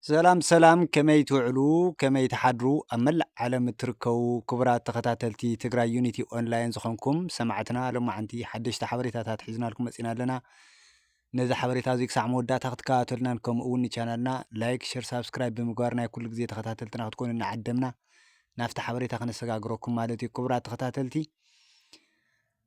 ሰላም ሰላም ከመይ ትውዕሉ ከመይ ትሓድሩ ኣብ መላእ ዓለም እትርከቡ ክቡራት ተኸታተልቲ ትግራይ ዩኒቲ ኦንላይን ዝኾንኩም ሰማዕትና ሎማዓንቲ ሓደሽቲ ሓበሬታታት ሒዝናልኩም መፂና ኣለና ነዚ ሓበሬታ እዚ ክሳዕ መወዳእታ ክትከታተሉናን ከምኡ እውን ንቻናልና ላይክ ሸር ሳብስክራይብ ብምግባር ናይ ኩሉ ግዜ ተኸታተልትና ክትኮኑ እናዓደምና ናብቲ ሓበሬታ ክነሰጋግረኩም ማለት እዩ ክቡራት ተኸታተልቲ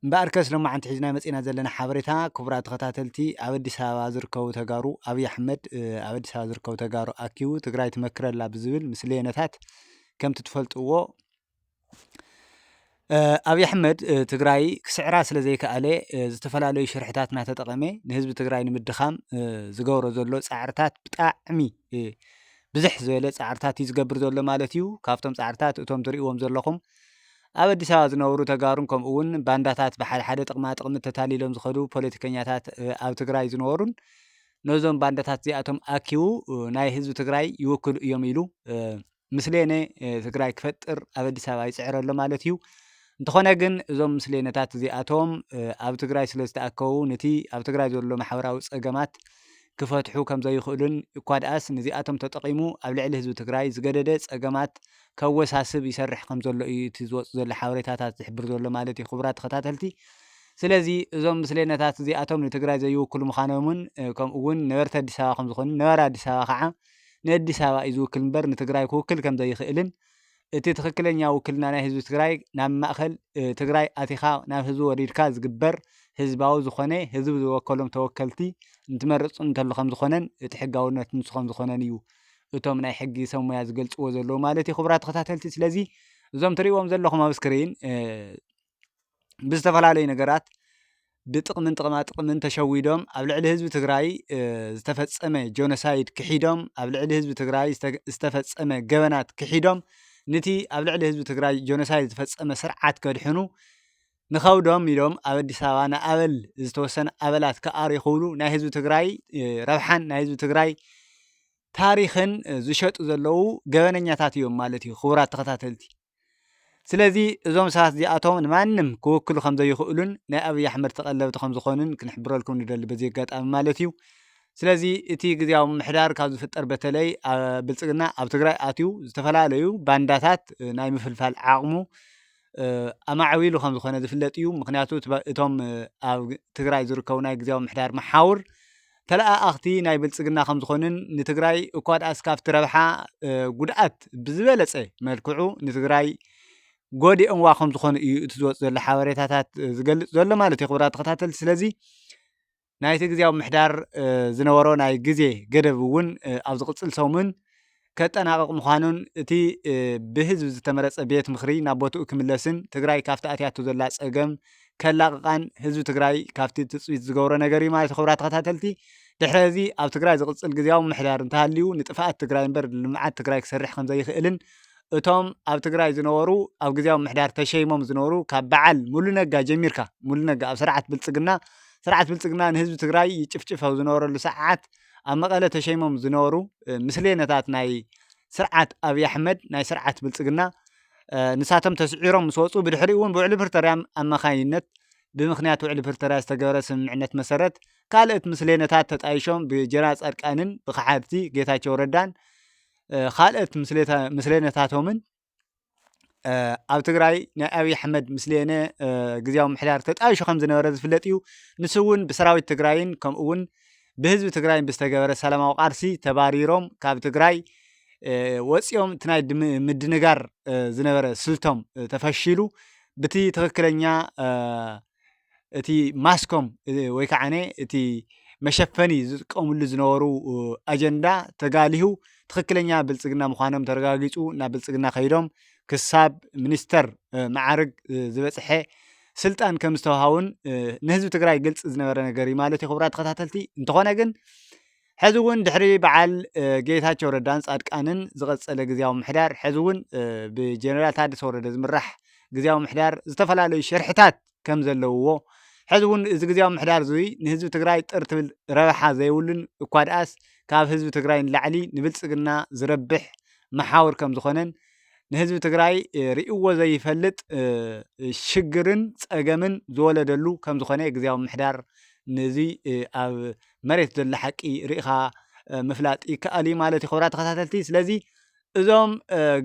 እምበኣርከስ ሎማዕንቲ ሒዝናዮ መፂእና ዘለና ሓበሬታ ክቡራት ተኸታተልቲ ኣብ ኣዲስ ኣበባ ዝርከቡ ተጋሩ ኣብይ ኣሕመድ ኣብ ኣዲስ ኣበባ ዝርከቡ ተጋሩ ኣኪቡ ትግራይ ትመክረላ ብዝብል ምስ ለየነታት ከምቲ ትፈልጥዎ ኣብይ ኣሕመድ ትግራይ ክስዕራ ስለ ዘይከኣለ ዝተፈላለዩ ሽርሕታት እናተጠቐመ ንህዝቢ ትግራይ ንምድኻም ዝገብሮ ዘሎ ፃዕርታት ብጣዕሚ ብዝሕ ዝበለ ፃዕርታት እዩ ዝገብር ዘሎ ማለት እዩ ካብቶም ፃዕርታት እቶም ትሪእዎም ዘለኹም ኣብ ኣዲስ ኣበባ ዝነብሩ ተጋሩን ከምኡ እውን ባንዳታት ብሓደ ሓደ ጥቅማ ጥቅሚ ተታሊሎም ዝኸዱ ፖለቲከኛታት ኣብ ትግራይ ዝነበሩን ነዞም ባንዳታት እዚኣቶም ኣኪቡ ናይ ህዝቢ ትግራይ ይውክሉ እዮም ኢሉ ምስሌነ ትግራይ ክፈጥር ኣብ ኣዲስ ኣበባ ይፅዕር ኣሎ ማለት እዩ። እንተኾነ ግን እዞም ምስሌነታት እዚኣቶም ኣብ ትግራይ ስለ ዝተኣከቡ ነቲ ኣብ ትግራይ ዘሎ ማሕበራዊ ፀገማት ክፈትሑ ከም ዘይኽእሉን እኳ ድኣስ ነዚኣቶም ተጠቒሙ ኣብ ልዕሊ ህዝቢ ትግራይ ዝገደደ ፀገማት ከወሳስብ ይሰርሕ ከም ዘሎ እዩ እቲ ዝወጽእ ዘሎ ሓበሬታታት ዝሕብር ዘሎ ማለት እዩ ክቡራት ተኸታተልቲ ስለዚ እዞም ምስሌነታት እዚኣቶም ንትግራይ ዘይውክሉ ምዃኖምን ከምኡ እውን ነበርቲ ኣዲስ ኣበባ ከም ዝኾኑን ነባሪ ኣዲስ ኣበባ ከዓ ንኣዲስ ኣበባ እዩ ዝውክል እምበር ንትግራይ ክውክል ከም ዘይኽእልን እቲ ትኽክለኛ ውክልና ናይ ህዝቢ ትግራይ ናብ ማእኸል ትግራይ ኣቲኻ ናብ ህዝቢ ወሪድካ ዝግበር ህዝባዊ ዝኾነ ህዝቢ ዝወከሎም ተወከልቲ እንትመርፅ እንተሉ ከም ዝኾነን እቲ ሕጋውነት ንሱ ከም ዝኾነን እዩ እቶም ናይ ሕጊ ሰብ ሞያ ዝገልጽዎ ዘለዉ ማለት እዩ ክቡራት ተኸታተልቲ ስለዚ እዞም ትርእዎም ዘለኹም ኣብ ስክሪን ብዝተፈላለዩ ነገራት ብጥቕምን ጥቕማ ጥቕምን ተሸዊዶም ኣብ ልዕሊ ህዝቢ ትግራይ ዝተፈፀመ ጆኖሳይድ ክሒዶም ኣብ ልዕሊ ህዝቢ ትግራይ ዝተፈፀመ ገበናት ክሒዶም ንቲ ኣብ ልዕሊ ህዝቢ ትግራይ ጆኖሳይድ ዝፈፀመ ስርዓት ከድሕኑ ንኸብዶም ኢሎም ኣብ ኣዲስ ኣበባ ንኣበል ዝተወሰነ ኣበላት ክኣርዩ ክብሉ ናይ ህዝቢ ትግራይ ረብሓን ናይ ህዝቢ ትግራይ ታሪኽን ዝሸጡ ዘለዉ ገበነኛታት እዮም ማለት እዩ ክቡራት ተኸታተልቲ ስለዚ እዞም ሰባት እዚኣቶም ንማንም ክውክሉ ከም ዘይኽእሉን ናይ ኣብዪ ኣሕመድ ተቐለብቲ ከም ዝኾኑን ክንሕብረልኩም ንደሊ በዚ ኣጋጣሚ ማለት እዩ ስለዚ እቲ ግዜያዊ ምምሕዳር ካብ ዝፍጠር በተለይ ብልፅግና ኣብ ትግራይ ኣትዩ ዝተፈላለዩ ባንዳታት ናይ ምፍልፋል ዓቕሙ ኣማዕቢሉ ከም ዝኾነ ዝፍለጥ እዩ። ምኽንያቱ እቶም ኣብ ትግራይ ዝርከቡ ናይ ግዜያዊ ምምሕዳር መሓውር ተለኣኣኽቲ ናይ ብልፅግና ከም ዝኾኑን ንትግራይ እኳ ድኣስ ካብቲ ረብሓ ጉድኣት ብዝበለፀ መልክዑ ንትግራይ ጎዲኦምዋ ከም ዝኾኑ እዩ እቲ ዝወፅ ዘሎ ሓበሬታታት ዝገልፅ ዘሎ ማለት እዩ። ክቡራት ተኸታተልቲ ስለዚ ናይቲ ግዝያዊ ምምሕዳር ዝነበሮ ናይ ግዜ ገደብ እውን ኣብ ዝቕፅል ሰሙን ከጠናቕቕ ምዃኑን እቲ ብህዝቢ ዝተመረፀ ቤት ምኽሪ ናብ ቦትኡ ክምለስን ትግራይ ካብቲ ኣትያቶ ዘላ ፀገም ከላቕቓን ህዝቢ ትግራይ ካብቲ ትፅቢት ዝገብሮ ነገር እዩ ማለት ክብራ ተኸታተልቲ ድሕረ እዚ ኣብ ትግራይ ዝቕፅል ግዝያዊ ምምሕዳር እንተሃልዩ ንጥፍኣት ትግራይ እምበር ልምዓት ትግራይ ክሰርሕ ከምዘይኽእልን እቶም ኣብ ትግራይ ዝነበሩ ኣብ ግዝያዊ ምምሕዳር ተሸይሞም ዝነበሩ ካብ በዓል ሙሉ ነጋ ጀሚርካ ሙሉ ነጋ ኣብ ስርዓት ብልፅግና ስርዓት ብልፅግና ንህዝቢ ትግራይ ይጭፍጭፍ ኣብ ዝነበረሉ ሰዓት ኣብ መቐለ ተሸይሞም ዝነበሩ ምስሌነታት ናይ ስርዓት ኣብዪ ኣሕመድ ናይ ስርዓት ብልፅግና ንሳቶም ተስዒሮም ምስ ወፁ ብድሕሪኡ እውን ብውዕሊ ፕሪቶርያ ኣማካይነት ብምክንያት ውዕሊ ፕሪቶርያ ዝተገበረ ስምምዕነት መሰረት ካልኦት ምስሌነታት ተጣይሾም ብጀራ ፃድቃንን ብከሓድቲ ጌታቸው ረዳን ካልኦት ምስሌነታቶምን ኣብ ትግራይ ናይ ኣብዪ ኣሕመድ ምስሌነ ግዝያዊ ምምሕዳር ተጣይሹ ከም ዝነበረ ዝፍለጥ እዩ። ንሱ እውን ብሰራዊት ትግራይን ከምኡ እውን ብህዝቢ ትግራይን ብዝተገበረ ሰላማዊ ቃልሲ ተባሪሮም ካብ ትግራይ ወፂኦም እቲ ናይ ምድንጋር ዝነበረ ስልቶም ተፈሺሉ ብቲ ትኽክለኛ እቲ ማስኮም ወይ ከዓ እቲ መሸፈኒ ዝጥቀምሉ ዝነበሩ ኣጀንዳ ተጋሊሁ ትኽክለኛ ብልፅግና ምዃኖም ተረጋጊፁ ናብ ብልፅግና ከይዶም ክሳብ ሚኒስተር መዓርግ ዝበፅሐ ስልጣን ከም ዝተውሃቡን ንህዝቢ ትግራይ ግልፂ ዝነበረ ነገር እዩ ማለት እዩ። ክቡራት ተኸታተልቲ እንተኾነ ግን ሕዚ እውን ድሕሪ በዓል ጌታቸው ረዳን ፃድቃንን ዝቐፀለ ግዝያዊ ምሕዳር ሕዚ እውን ብጀነራል ታደሰ ወረደ ዝምራሕ ግዝያዊ ምሕዳር ዝተፈላለዩ ሽርሕታት ከም ዘለውዎ ሕዚ እውን እዚ ግዝያዊ ምሕዳር እዙይ ንህዝቢ ትግራይ ጥር ትብል ረብሓ ዘይብሉን እኳ ድኣስ ካብ ህዝቢ ትግራይ ንላዕሊ ንብልፅግና ዝረብሕ መሓውር ከም ዝኾነን ንህዝቢ ትግራይ ርእይዎ ዘይፈልጥ ሽግርን ፀገምን ዝወለደሉ ከም ዝኾነ ግዝያዊ ምምሕዳር ነዚ ኣብ መሬት ዘሎ ሓቂ ርኢኻ ምፍላጥ ይከኣል እዩ ማለት እዩ። ክቡራት ተኸታተልቲ ስለዚ እዞም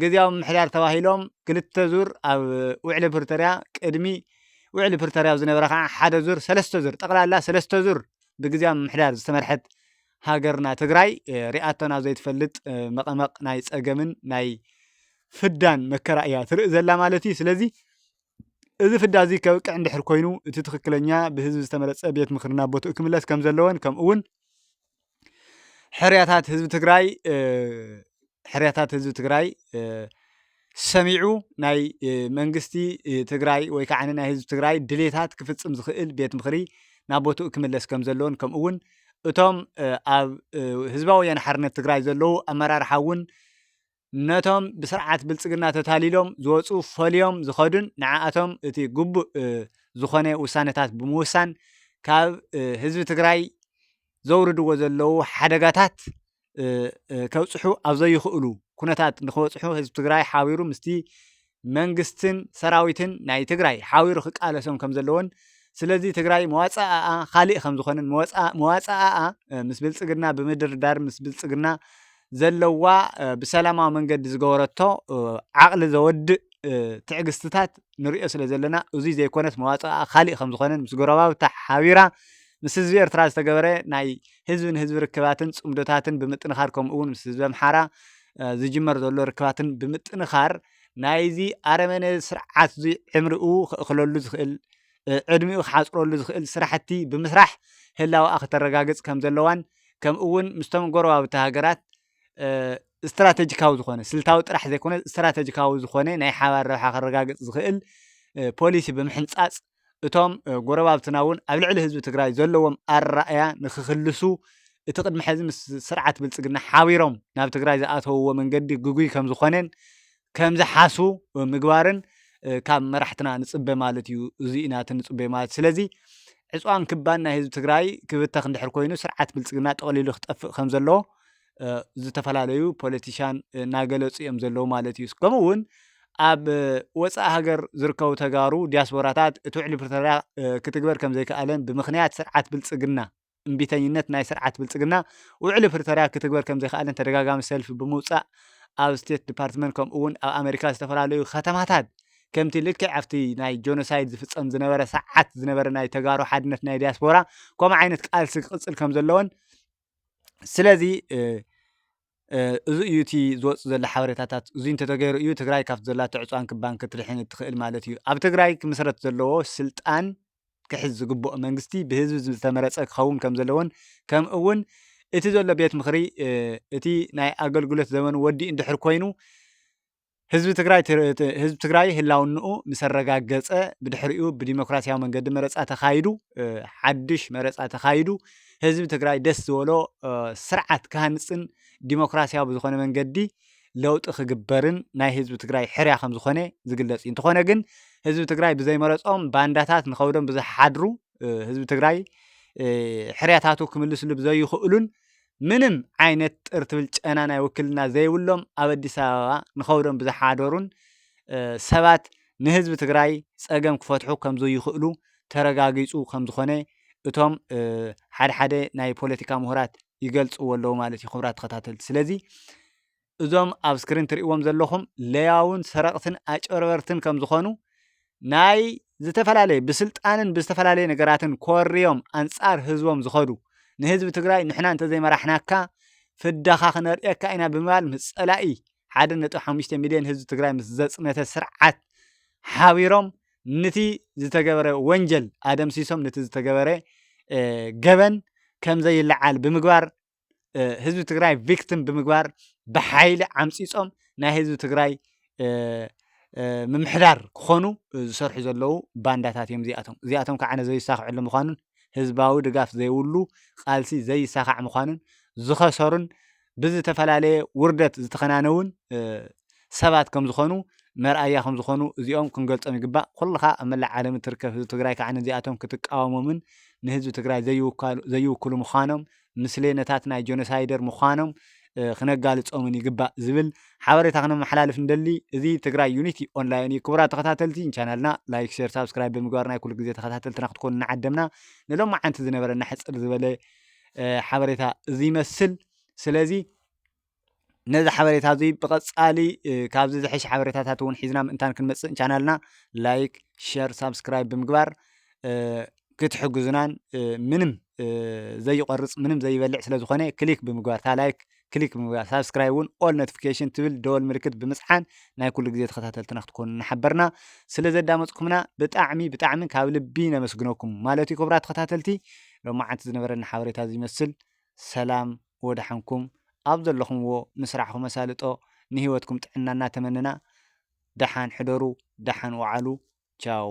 ግዝያዊ ምምሕዳር ተባሂሎም ክልተ ዙር ኣብ ውዕሊ ፕሪቶርያ ቅድሚ ውዕሊ ፕሪቶርያ ዝነበረ ከዓ ሓደ ዙር ሰለስተ ዙር ጠቕላላ ሰለስተ ዙር ብግዝያዊ ምምሕዳር ዝተመርሐት ሃገርና ትግራይ ሪኣቶ ናብ ዘይትፈልጥ መቐመቕ ናይ ፀገምን ናይ ፍዳን መከራ እያ ትርኢ ዘላ ማለት እዩ። ስለዚ እዚ ፍዳ እዚ ከብቅዕ እንድሕር ኮይኑ እቲ ትኽክለኛ ብህዝቢ ዝተመረፀ ቤት ምኽሪ ናብ ቦትኡ ክምለስ ከም ዘለዎን ከምኡ እውን ሕርያታት ህዝቢ ትግራይ ሕርያታት ህዝቢ ትግራይ ሰሚዑ ናይ መንግስቲ ትግራይ ወይ ከዓ ናይ ህዝቢ ትግራይ ድሌታት ክፍፅም ዝኽእል ቤት ምኽሪ ናብ ቦትኡ ክምለስ ከም ዘለዎን ከምኡ እውን እቶም ኣብ ህዝባዊ ወያነ ሓርነት ትግራይ ዘለዉ ኣመራርሓ እውን ነቶም ብስርዓት ብልፅግና ተታሊሎም ዝወፁ ፈልዮም ዝኸዱን ንዓኣቶም እቲ ግቡእ ዝኾነ ውሳነታት ብምውሳን ካብ ህዝቢ ትግራይ ዘውርድዎ ዘለዉ ሓደጋታት ከብፅሑ ኣብ ዘይኽእሉ ኩነታት ንክበፅሑ ህዝቢ ትግራይ ሓቢሩ ምስቲ መንግስትን ሰራዊትን ናይ ትግራይ ሓቢሩ ክቃለሶም ከም ዘለዎን ስለዚ ትግራይ መዋፅኣኣ ካሊእ ከም ዝኾነን መዋፅኣኣ ምስ ብልፅግና ብምድርዳር ምስ ብልፅግና ዘለዋ ብሰላማዊ መንገዲ ዝገበረቶ ዓቕሊ ዘወድእ ትዕግስትታት ንሪኦ ስለ ዘለና እዙይ ዘይኮነስ መዋፅኣ ካሊእ ከም ዝኾነን ምስ ጎረባብታ ሓቢራ ምስ ህዝቢ ኤርትራ ዝተገበረ ናይ ህዝቢ ንህዝቢ ርክባትን ፅምዶታትን ብምጥንኻር ከምኡ እውን ምስ ህዝቢ ኣምሓራ ዝጅመር ዘሎ ርክባትን ብምጥንኻር ናይዚ ኣረመነ ስርዓት እዙይ ዕምሪኡ ክእኽለሉ ዝኽእል ዕድሚኡ ክሓፅረሉ ዝኽእል ስራሕቲ ብምስራሕ ህላወኣ ክተረጋግፅ ከምዘለዋን ከምኡ እውን ምስቶም ጎረባብቲ ሃገራት ስትራተጂካዊ ዝኾነ ስልታዊ ጥራሕ ዘይኮነ ስትራተጂካዊ ዝኾነ ናይ ሓባር ረብሓ ከረጋግፅ ዝኽእል ፖሊሲ ብምሕንፃፅ እቶም ጎረባብትና እውን ኣብ ልዕሊ ህዝቢ ትግራይ ዘለዎም ኣረኣእያ ንክክልሱ እቲ ቅድሚ ሕዚ ምስ ስርዓት ብልፅግና ሓቢሮም ናብ ትግራይ ዝኣተውዎ መንገዲ ግጉይ ከም ዝኾነን ከምዝሓስቡ ምግባርን ካብ መራሕትና ንፅበ ማለት እዩ። እዙይ ኢና እቲ ንፅበዮ ማለት ስለዚ ዕፅዋን ክባን ናይ ህዝቢ ትግራይ ክብተኽ እንድሕር ኮይኑ ስርዓት ብልፅግና ጠቕሊሉ ክጠፍእ ከም ዘለዎ ዝተፈላለዩ ፖለቲሻን እናገለፁ እዮም ዘለዉ ማለት እዩ። ከምኡ እውን ኣብ ወፃኢ ሃገር ዝርከቡ ተጋሩ ዲያስፖራታት እቲ ውዕሊ ፕሪቶርያ ክትግበር ከም ዘይከኣለን ብምኽንያት ስርዓት ብልፅግና እምቢተኝነት ናይ ስርዓት ብልፅግና ውዕሊ ፕሪቶርያ ክትግበር ከምዘይክኣልን ተደጋጋሚ ሰልፊ ብምውፃእ ኣብ ስቴት ዲፓርትመንት ከምኡ እውን ኣብ ኣሜሪካ ዝተፈላለዩ ኸተማታት ከምቲ ልክዕ ኣብቲ ናይ ጆኖሳይድ ዝፍፀም ዝነበረ ሰዓት ዝነበረ ናይ ተጋሩ ሓድነት ናይ ዲያስፖራ ከምኡ ዓይነት ቃልሲ ክቕፅል ከምዘለዎን ስለዚ እዚ እዩ እቲ ዝወፅእ ዘሎ ሓበሬታታት እዙይ እንተተገይሩ እዩ ትግራይ ካብቲ ዘላቶ ዕፅዋን ክባን ክትድሕን እትኽእል ማለት እዩ። ኣብ ትግራይ ክምስረት ዘለዎ ስልጣን ክሕዝ ዝግብኦ መንግስቲ ብህዝቢ ዝተመረፀ ክኸውን ከም ዘለዎን ከም እውን እቲ ዘሎ ቤት ምኽሪ እቲ ናይ ኣገልግሎት ዘመኑ ወዲኡ እንድሕር ኮይኑ ህዝቢ ትግራይ ህዝቢ ትግራይ ህላውንኡ ምስ ኣረጋገፀ ብድሕሪኡ ብዲሞክራሲያዊ መንገዲ መረፃ ተኻይዱ ሓድሽ መረፃ ተኻይዱ ህዝቢ ትግራይ ደስ ዝበሎ ስርዓት ክሃንፅን ዲሞክራሲያዊ ብዝኾነ መንገዲ ለውጢ ክግበርን ናይ ህዝቢ ትግራይ ሕርያ ከም ዝኾነ ዝግለጽ እዩ እንተኾነ ግን ህዝቢ ትግራይ ብዘይመረፆም ባንዳታት ንኸብዶም ብዝሓድሩ ህዝቢ ትግራይ ሕርያታቱ ክምልስሉ ብዘይኽእሉን ምንም ዓይነት ጥር ትብል ጨና ናይ ውክልና ዘይብሎም ኣብ ኣዲስ ኣበባ ንኸብዶም ብዝሓደሩን ሰባት ንህዝቢ ትግራይ ፀገም ክፈትሑ ከም ዘይኽእሉ ተረጋጊፁ ከም ዝኾነ እቶም ሓደ ሓደ ናይ ፖለቲካ ምሁራት ይገልፅዎ ኣለዉ ማለት እዩ። ክቡራት ተኸታተልቲ ስለዚ እዞም ኣብ እስክሪን ትሪእዎም ዘለኹም ለያዉን ሰረቕትን ኣጭበርበርትን ከም ዝኾኑ ናይ ዝተፈላለየ ብስልጣንን ብዝተፈላለየ ነገራትን ኮርዮም ኣንጻር ህዝቦም ዝኸዱ ንህዝቢ ትግራይ ንሕና እንተዘይመራሕናካ ፍዳኻ ክነርእየካ ኢና ብምባል ምስ ጸላኢ ሓደ ነጥቢ ሓሙሽተ ሚልዮን ህዝቢ ትግራይ ምስ ዘጽነተ ስርዓት ሓቢሮም ንቲ ዝተገበረ ወንጀል ኣደምሲሶም ንቲ ዝተገበረ ገበን ከም ዘይለዓል ብምግባር ህዝቢ ትግራይ ቪክትም ብምግባር ብሓይሊ ዓምፂፆም ናይ ህዝቢ ትግራይ ምምሕዳር ክኾኑ ዝሰርሑ ዘለዉ ባንዳታት እዮም እዚኣቶም እዚኣቶም ከዓ ነዘ ይሳክዐሉ ምዃኑን ህዝባዊ ድጋፍ ዘይብሉ ቃልሲ ዘይሳኻዕ ምዃኑን ዝኸሰሩን ብዝተፈላለየ ውርደት ዝተኸናነውን ሰባት ከም ዝኾኑ መርኣያ ከም ዝኾኑ እዚኦም ክንገልፆም ይግባእ ኩልኻ ኣብ መላእ ዓለም እትርከብ ህዝቢ ትግራይ ከዓ ነዚኣቶም ክትቃወሞምን ንህዝቢ ትግራይ ዘይውክሉ ምዃኖም ምስሌነታት ናይ ጆኖሳይደር ምዃኖም ክነጋልፆምን ይግባእ ዝብል ሓበሬታ ክነመሓላልፍ ንደሊ። እዚ ትግራይ ዩኒቲ ኦንላይን እዩ። ክቡራት ተኸታተልቲ ንቻናልና ላይክ፣ ሼር፣ ሳብስክራይብ ብምግባር ናይ ኩሉ ግዜ ተኸታተልትና ክትኮኑ እናዓደምና ንሎማዓንቲ ዝነበረና ሕፅር ዝበለ ሓበሬታ እዚ ይመስል። ስለዚ ነዚ ሓበሬታ እዚ ብቐፃሊ ካብዚ ዝሐሸ ሓበሬታታት እውን ሒዝና ምእንታን ክንመፅእ ቻናልና ላይክ፣ ሸር፣ ሳብስክራይብ ብምግባር ክትሕግዙናን ምንም ዘይቆርፅ ምንም ዘይበልዕ ስለዝኾነ ክሊክ ብምግባር እታ ላይክ ክሊክ ብምግባር ሳብስክራይብ እውን ኦል ኖቲፊኬሽን ትብል ደወል ምልክት ብምፅሓን ናይ ኩሉ ግዜ ተኸታተልትና ክትኮኑ እናሓበርና ስለ ዘዳመፅኩምና ብጣዕሚ ብጣዕሚ ካብ ልቢ ነመስግነኩም ማለት እዩ ክቡራት ተኸታተልቲ ሎማዓንቲ ዝነበረና ሓበሬታ ዝመስል ሰላም ወድሓንኩም ኣብ ዘለኹምዎ ንስራሕኹም ኣሳልጦ ንሂወትኩም ጥዕና እናተመነና ደሓን ሕደሩ ደሓን ውዓሉ ቻው።